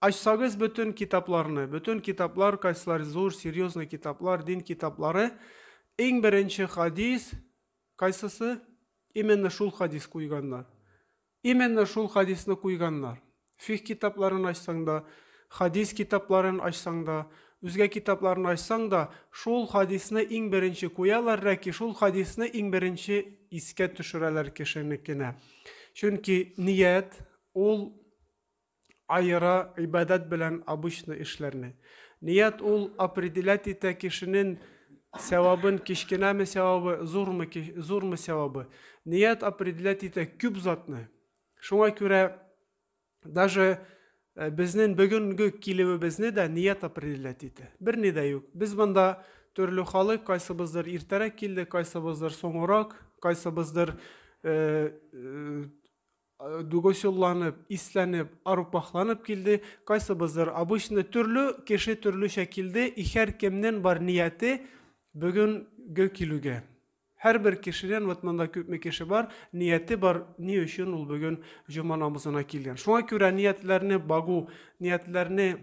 Ачсагыз бөтен китапларны, бөтен китаплар кайсылар зур, серьезный китаплар, дин китаплары, иң беренче хадис кайсысы? Именно шул хадис куйганнар. Именно шул хадисны куйганнар. Фих китапларын ачсаң да, хадис китапларын ачсаң да, үзгә китапларны ачсаң да, шул хадисны иң беренче куялар, ләки шул хадисны иң беренче искә төшерәләр кешенекенә. Чөнки ният ул аера гыйбадәт белән обычный эшләрне. Ният ул определять итә кешенен сәвабын кечкенәме сәвабы, зурмы, зурмы сәвабы. Ният определять итә күп затны. Шуңа күрә даже э, безнен бүгенге килүебезне дә ният определять итә. Бер ни дә юк. Без монда төрле халык, кайсыбыздыр иртәрәк килде, кайсыбыздыр соңрак, кайсыбыздыр э, э, Дугосюлланып, исләнеп, арупахланып килде, кайсыбыздыр обычный, төрле кеше төрлечә килде, и хәр кемнен бар нияте бөген гө килүгә. Һәрбер кешенен, вот монда күпме кеше бар, нияте бар, ни өчен ул бөген җома намазына килгән. Шуңа күрә ниятләрне багу, ниятләрне,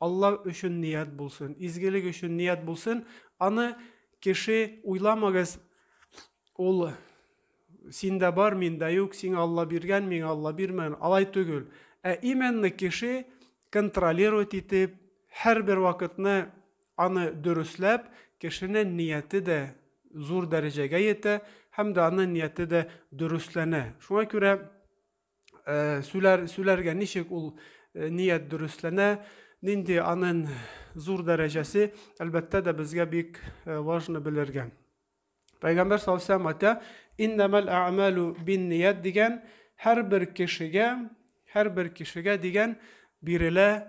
Алла өчен ният булсын, изгелек өчен ният булсын, аны кеше уйламагыз, ул синдә бар, миндә юк, сиңа Алла биргән, миңа Алла бирмәгән, алай түгел. Ә именно кеше контролировать итеп, һәрбер вакытны аны дөресләп, кешенең нияте дә зур дәрәҗәгә йитә һәм дә аның нияте дә дөресләнә. Шуңа күрә э, сүләр, сүләргә ничек ул э, ният дөресләнә, нинди аның зур дәрәҗәсе, әлбәттә дә безгә бик э, важно белергә. Пәйгамбәр салсам ата, иннамал а'малу бин ният дигән һәр бер кешегә, һәр бер кешегә дигән бирелә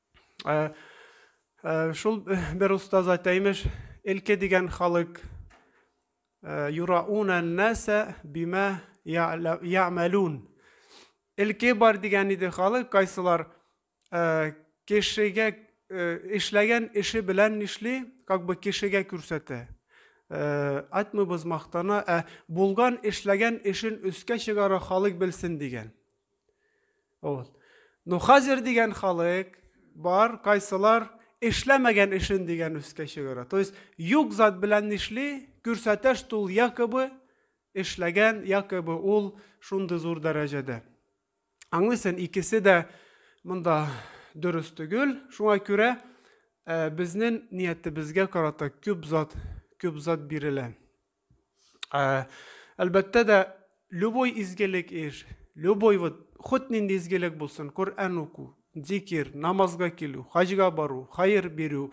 Ә, ә, шул бер остаз әйтә, имеш, элке дигән халык ә, юрауна нәсә бимә я'мәлун. Элке бар дигән иде халык, кайсылар ә, кешегә эшләгән эше белән нишли, как бы кешегә күрсәтә. Айтмыйбыз мактана, ә булган эшләгән эшен өскә чыгара халык белсен дигән. Ул. Ну хәзер дигән халык бар, кайсылар эшләмәгән эшен дигән өскә чыгыра. То есть юк зат белән нишли, күрсәтә, что ул якобы эшләгән, якобы ул шундый зур дәрәҗәдә. Аңлыйсың, икесе дә монда дөрес түгел. Шуңа күрә безнең ниятебезгә карата күп зат, күп зат бирелә. Ә, әлбәттә дә, любой изгелек ир, любой вот, хут нинди изгелек булсын, Коръән уку, зикир, намазга килү, хаҗга бару, хайыр бирү,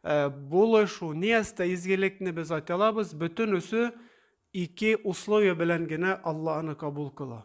ә, булышу, ниястә изгелекне без атялабыз, бөтенесе ике условие белән генә Алла аны кабул кыла.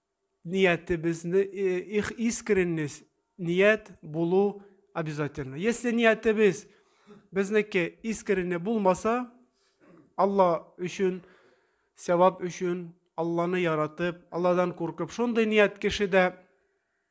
ниятебезне их искренность ният булу обязательно если ниятебез безнеке искренне булмаса алла өчен сәвап өчен алланы яратып алладан куркып шундый ният кешедә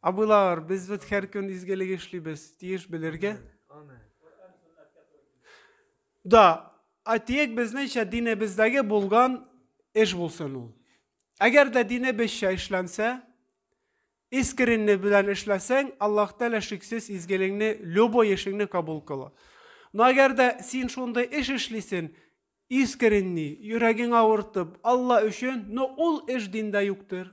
Абыйлар, без бит һәр көн изгелек эшлибез, тиеш белергә. Да, атиек безнеңчә динебездәге булган эш булсын ул. Әгәр дә динебезчә эшләнсә, искренне белән эшләсәң, Аллаһ Тәгалә шиксез изгелегеңне, любой эшеңне кабул кыла. Но әгәр дә син шундый эш эшлисең, искренне, йөрәгең авыртып, Алла өчен, но ул эш диндә юктыр.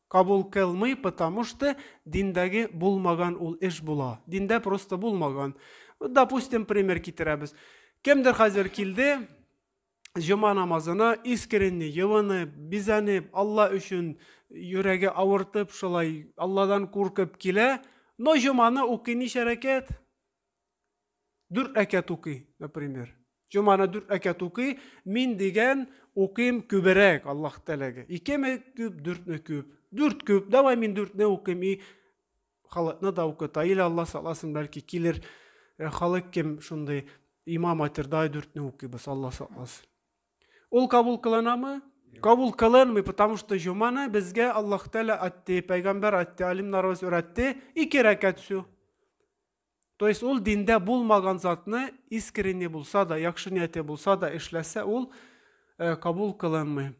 Кабул кылмый потому что диндәге булмаган ул эш була. Диндә просто булмаган. Допустим пример китерәбез. Кемдер хәзер килде, җома намазына искренне, йывынып, бизәнеп, Алла өчен йөрәге авыртып, шулай Алладан куркып килә, но җоманы укый ничә рәкәт? Дүрт рәкәт укый, например. Җоманы дүрт рәкәт укый, мин дигән укыйм күберәк, Аллаһ теләге. Икеме күп, дүртме күп? Дүрт күп, давай мин дүртне укыйм, и халыкны да укыта. Или Аллаһ сакласын, бәлки килер э, халык кем шундый имам айтыр, давай дүртне укыйбыз, Аллаһ сакласын. Ул кабул кылынамы? Кабул кылынмый, потому что җоманы безгә Аллаһ Тәгалә атты, пәйгамбәр атты, алимнарыбыз өйрәтте, ике рәкәт сү. То есть ул диндә булмаган затны искренне булса да, яхшы нияте булса да эшләсә, ул э, кабул кылынмый.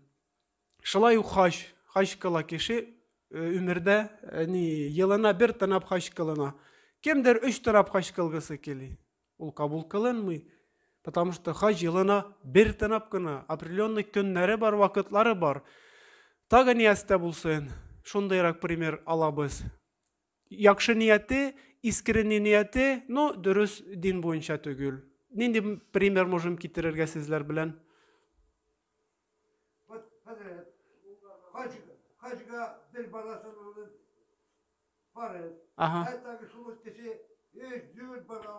Шулай ук хаҗ, хаҗ кыла кеше өмердә, э, ни, елына бер тынап хаҗ кылына. Кемдер өч тынап хаҗ кылгысы кели. Ул кабул кылынмый. Потому что хаҗ елына бер тынап кына, определенный көннәре бар, вакытлары бар. Тагы ниястә булсын, шундыйрак пример алабыз. Якшы нияте, искренне нияте, но дөрес дин буенча түгел. Нинди пример можем китерергә сезләр белән? Хаҗга бер баласын алып барып, хәтта шул кеше өч дүрт бала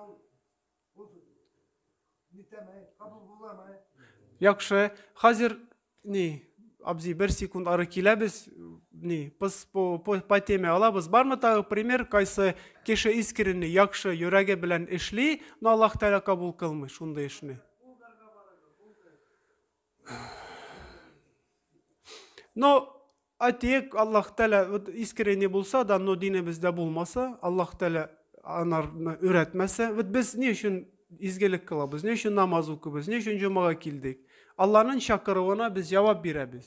Яхшы, хәзер ни, абзи, бер секунд ары киләбез, ни, пыс, по, по, по теме алабыз. Бармы тагы пример, кайсы кеше искренне, яхшы, йөрәге белән эшли, но Аллах Тәгалә кабул кылмый шундый эшне? Но әйтик, Аллаһ Тәлә искренне булса да, но динебездә булмаса, Аллаһ Тәлә анарны өйрәтмәсә, вот без ни өчен изгелек кылабыз, ни өчен намаз укыбыз, ни өчен җомага килдек? Алланың чакыруына без җавап бирәбез.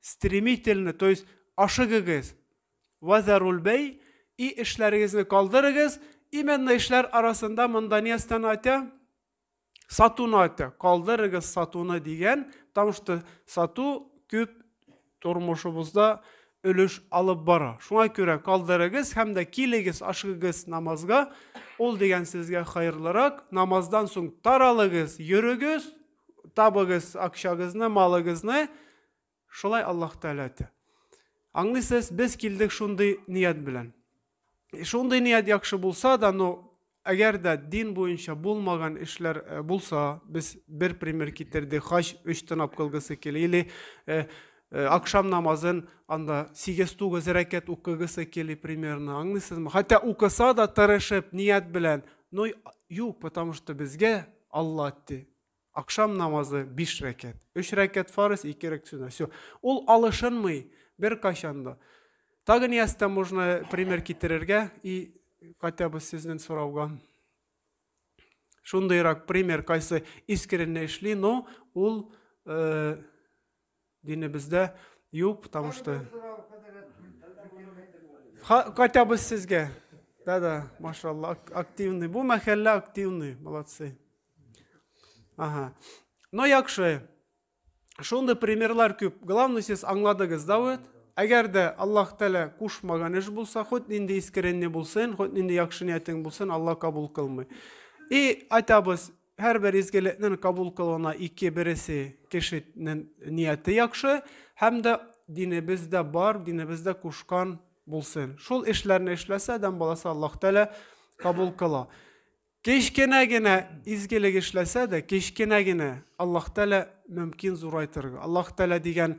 Стремительно, то есть ашыгыгыз. Вазаруль бәй и эшләрегезне калдырыгыз, именно эшләр арасында монда не останатя? Сатуны атя, калдырыгыз сатуны дигән, потому что сату күп тормышыбызда өлеш алып бара. Шуңа күрә калдырыгыз һәм дә килегез, ашыгыгыз намазга. Ул дигән сезгә хайырлырак. Намаздан соң таралыгыз, йөрегез, Табыгыз акчагызны, малыгызны. Шулай Аллаһ Тәгалә әйтә. Аңлыйсыз, без килдек шундый ният белән. Шундый ният яхшы булса да, но әгәр дә дин буенча булмаган эшләр э, булса, без бер пример китердек, хаҗ өч тынап кылгысы килә, или э, э, акшам намазын анда 8-9 рәкәт укыгысы килә примерно, аңлыйсызмы? Хәтта укыса да тырышып, ният белән, но юк, потому что безгә Алла әйтте. Акшам намазы биш рәкәт. Өч рәкәт фарыз, ике рәкәт сүнә. Все. Ул алышынмый бер кайчан да. Так ниястә можно пример китерергә и хотя бы сезнен сорауга. Шундыйрак пример кайсы искренне эшли, но ул э, Динебездә юк, потому что... Хотя бы сезгә. Да-да, машалла, активный. Бу мәхәллә активный, молодцы. Ага. Но яхшы. Шундый примерлар күп. Главное, сез аңладыгыз, да вот? Әгәр дә Аллаһ Тәлә кушмаган эш булса, хоть нинди искренне булсын, хоть нинди яхшы ниятең булсын, Аллаһ кабул кылмый. И айтабыз, Һәрбер изгелекнең кабул кылуына ике бересе кешенең нияте яхшы һәм дә динебездә бар, динебездә кушкан булсын. Шул эшләрне эшләсә, адәм баласы Аллаһ Тәгалә кабул кыла. Кечкенә генә изгелек эшләсә дә, кечкенә генә Аллаһ Тәгалә мөмкин зурайтырга. Аллаһ Тәгалә дигән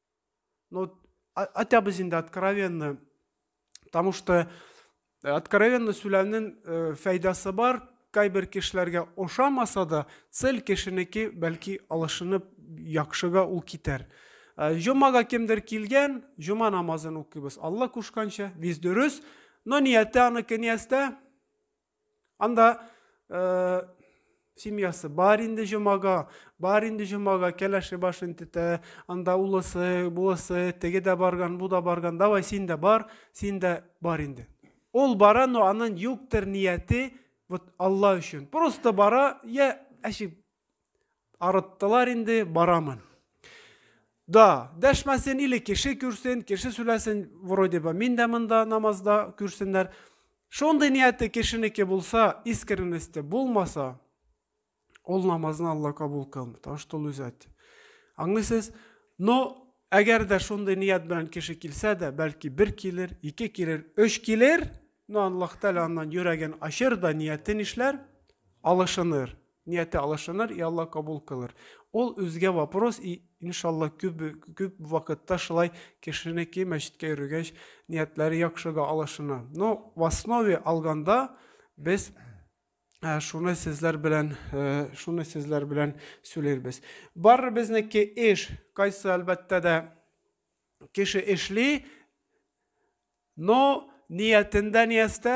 Ну, а, хотя бы инде откровенно. Потому что э, откровенно сөйләүнең э, файдасы бар. Кайбер кешеләргә ошамаса да, цел кешенеке бәлки алышынып яхшыга ул китәр. Э, Җомага кемдер килгән, җома намазын укыйбыз. Алла кушканча, без дөрес, но нияте аныкы ниястә? Анда э, семьясы бар инде җомага, бар инде җомага кәләше башын тетә, анда улысы, булысы, теге дә барган, бу да барган, давай син дә бар, син дә бар инде. Ул бара, но анын юктыр нияте, вот Алла өчен. Просто бара, я әшип Арыттылар инде, барамын. Да, дәшмәсен или кеше күрсен, кеше сүләсен, вроде бы мин дә монда намазда күрсеннәр. Шундый нияте кешенеке булса, искренности булмаса, ул намазны Алла кабул кылмый. Потому что ул үзе әйтте. Аңлыйсыз? Но әгәр дә шундый ният белән кеше килсә дә, бәлки бер килер, ике килер, өч килер, но Аллаһ Тәгалә аннан йөрәген ачыр да ниятен эшләр, алышыныр. Нияте алышыныр, и Алла кабул кылыр. Ул үзгә вопрос, и иншалла күп күп вакытта шулай кешенеке мәчеткә йөргәч ниятләре яхшыга алышына. Но в основе алганда без Ә, шуны сезләр белән ә, шуны сезләр белән сөйләрбез барыбезнеке эш кайсы әлбәттә дә кеше эшли но ниятендә ниястә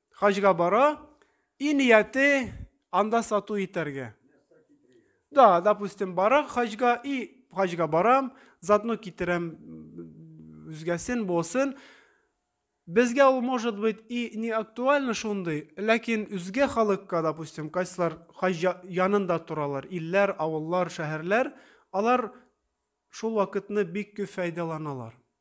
Хаҗга бара, и нияте анда сату итәргә. Да, допустим, бара хаҗга, и хаҗга барам, затно китерәм үзгәсен, босын. Безгә ул, может быть, и не актуально шундый, ләкин үзгә халыкка, допустим, кайсылар хаҗ янында торалар, илләр, авыллар, шәһәрләр, алар шул вакытны бик күп файдаланалар.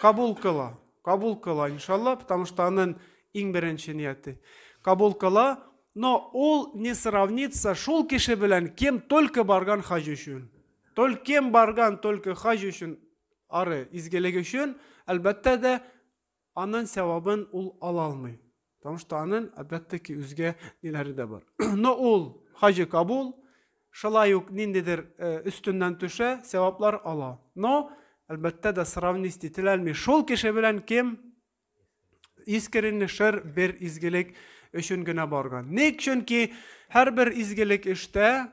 Кабул кыла, кабул кыла, иншалла, потому что анын иң беренче нияте. Кабул кыла, но ул не сравнится шул кеше белән, кем только барган хаҗ өчен. Только кем барган только хаҗ өчен, ары, изгелек өчен, әлбәттә дә, анын сәвабын ул ала алмый. Потому что анын, опять-таки, үзгә ниләре дә бар. Но ул хаҗи кабул, шулай ук ниндидер э, өстеннән төшә, сәваплар ала. Но, әлбәттә дә, сравнить ителәлми. Шул кеше белән кем искренне шер бер изгелек өчен генә барган. Ник? Чөнки һәрбер изгелек эштә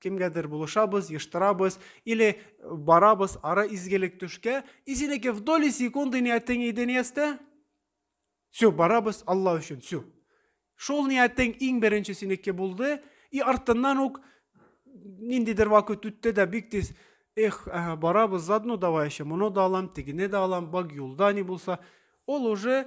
кемгәдер булышабыз, ештырабыз, или барабыз ара изгелек төшкә, и синеке в доли секунды ниятең иде ниястә? Все, барабыз Алла өчен, все. Шул ниятең иң беренче синеке булды, и артыннан ук ниндидер вакыт үтте дә бик тиз эх, ага, барабыз, заодно давай еще, моны да алам, тегене дә алам, бак юлда не булса. Ул уже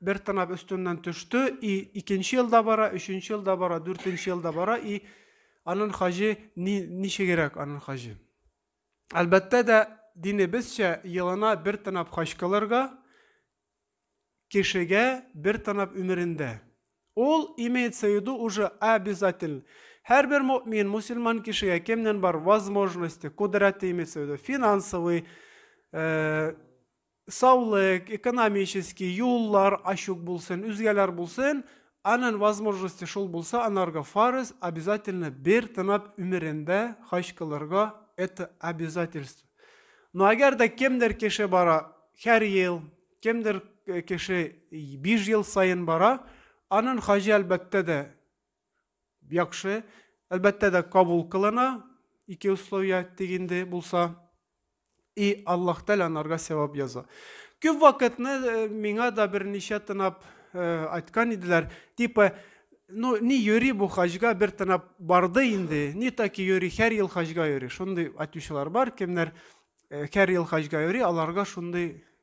Бер тырнак өстеннән төште, и икенче ел да бара, өченче ел да бара, дүртенче ел да бара, и анын хаҗы ни, ничегрәк анын хаҗы. Әлбәттә дә, динебезчә елына бер тырнап хаҗ кылырга, кешегә бер тырнап өмерендә. Ул имеется в виду уже обязательно. Һәрбер мөмин, мусульман кешегә кемнән бар возможности, кодрәте имеется в виду, финансовый, э, Саулык, экономический, юллар ачук булсын, үзгәләр булсын, анын возможности шул булса, анарга фарыз, обязательно бер тынап өмерендә хаҗ кылырга, это обязательство. Но әгәр дә кемдер кеше бара хәр ел, кемдер кеше биш ел саен бара, анын хаҗы әлбәттә дә яхшы. Әлбәттә дә кабул кылына. Ике условия тик инде булса. И Аллаһ Тәгалә анарга сәвап яза. Күп вакытны э, миңа да берничә тынап э, айткан иделәр, типа ну ни йөри бу хаҗга бер тынап барды инде, ни таки йөри, һәр ел хаҗга йөри. Шундый айтучылар бар, кемнәр э, һәр ел хаҗга йөри, аларга шундый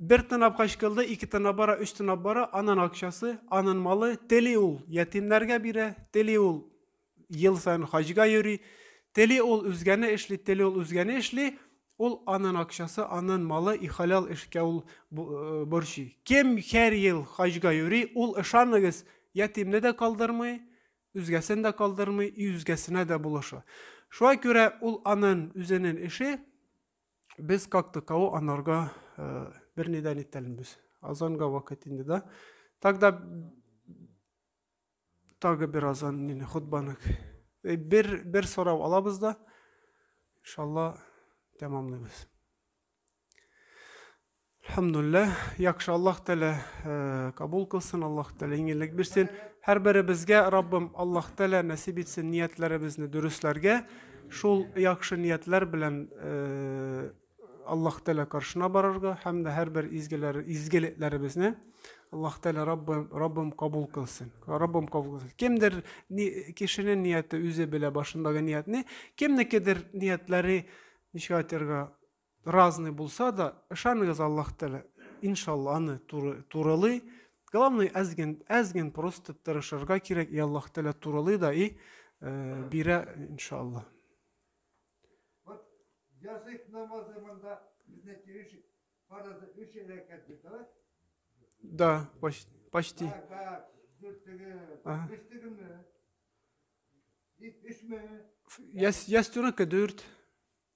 Бер тынап качкылды, ике тынап бара, өч тынап бара, анын акчасы, анын малы, тели ул ятимнәргә бирә, тели ул ел саен хаҗга йөри, тели ул үзгәне эшли, тели ул үзгәне эшли, ул анын акчасы, анын малы, и халәл эшкә ул борчый. Кем хәр ел хаҗга йөри, ул, ышаныгыз, ятимне дә калдырмый, үзгәсен дә калдырмый, и үзгәсенә дә булыша. Шуңа күрә ул анын үзенен эше. без как таково анарга э, бер ни дә нитәлмбез. Азанга вакыт инде да. Тогда тагы бер азан нине хутбанык. Э, бер бер сорау алабыз да. Иншалла тәмамлыйбыз. Әлхәмдуллә, яхшы Аллаһ Тәгалә э, кабул кылсын, Аллаһ Тәгалә иңеллек бирсен. Һәрберебезгә Раббым Аллаһ Тәгалә нәсип итсен ниятләребезне дөресләргә. Шул яхшы ниятләр белән э, Аллаһ Тәгалә каршына барырга һәм дә һәрбер изгеләр изгелекләребезне Аллаһ Тәгалә Раббым Раббым кабул кылсын. Раббым кабул кылсын. Кемдер ни, кешенең нияте үзе белә башындагы ниятне, кемнекедер ниятләре ничек айтырга Разный булса да, ышаныгыз Аллаһ Тәгалә, иншалла, аны туры, турылый. Главный әз ген, әз ген просто тырышырга кирәк, и Аллаһ Тәгалә турылый да и э, бирә, иншалла. Вот язык намазы монда безне тириш фаразы үч рәкәт бит, давай. Да, почти. почти. Так, так, дүртеге, Ага. өчтегеме? Ит өчме? Яс, ястүрәкә дүрт.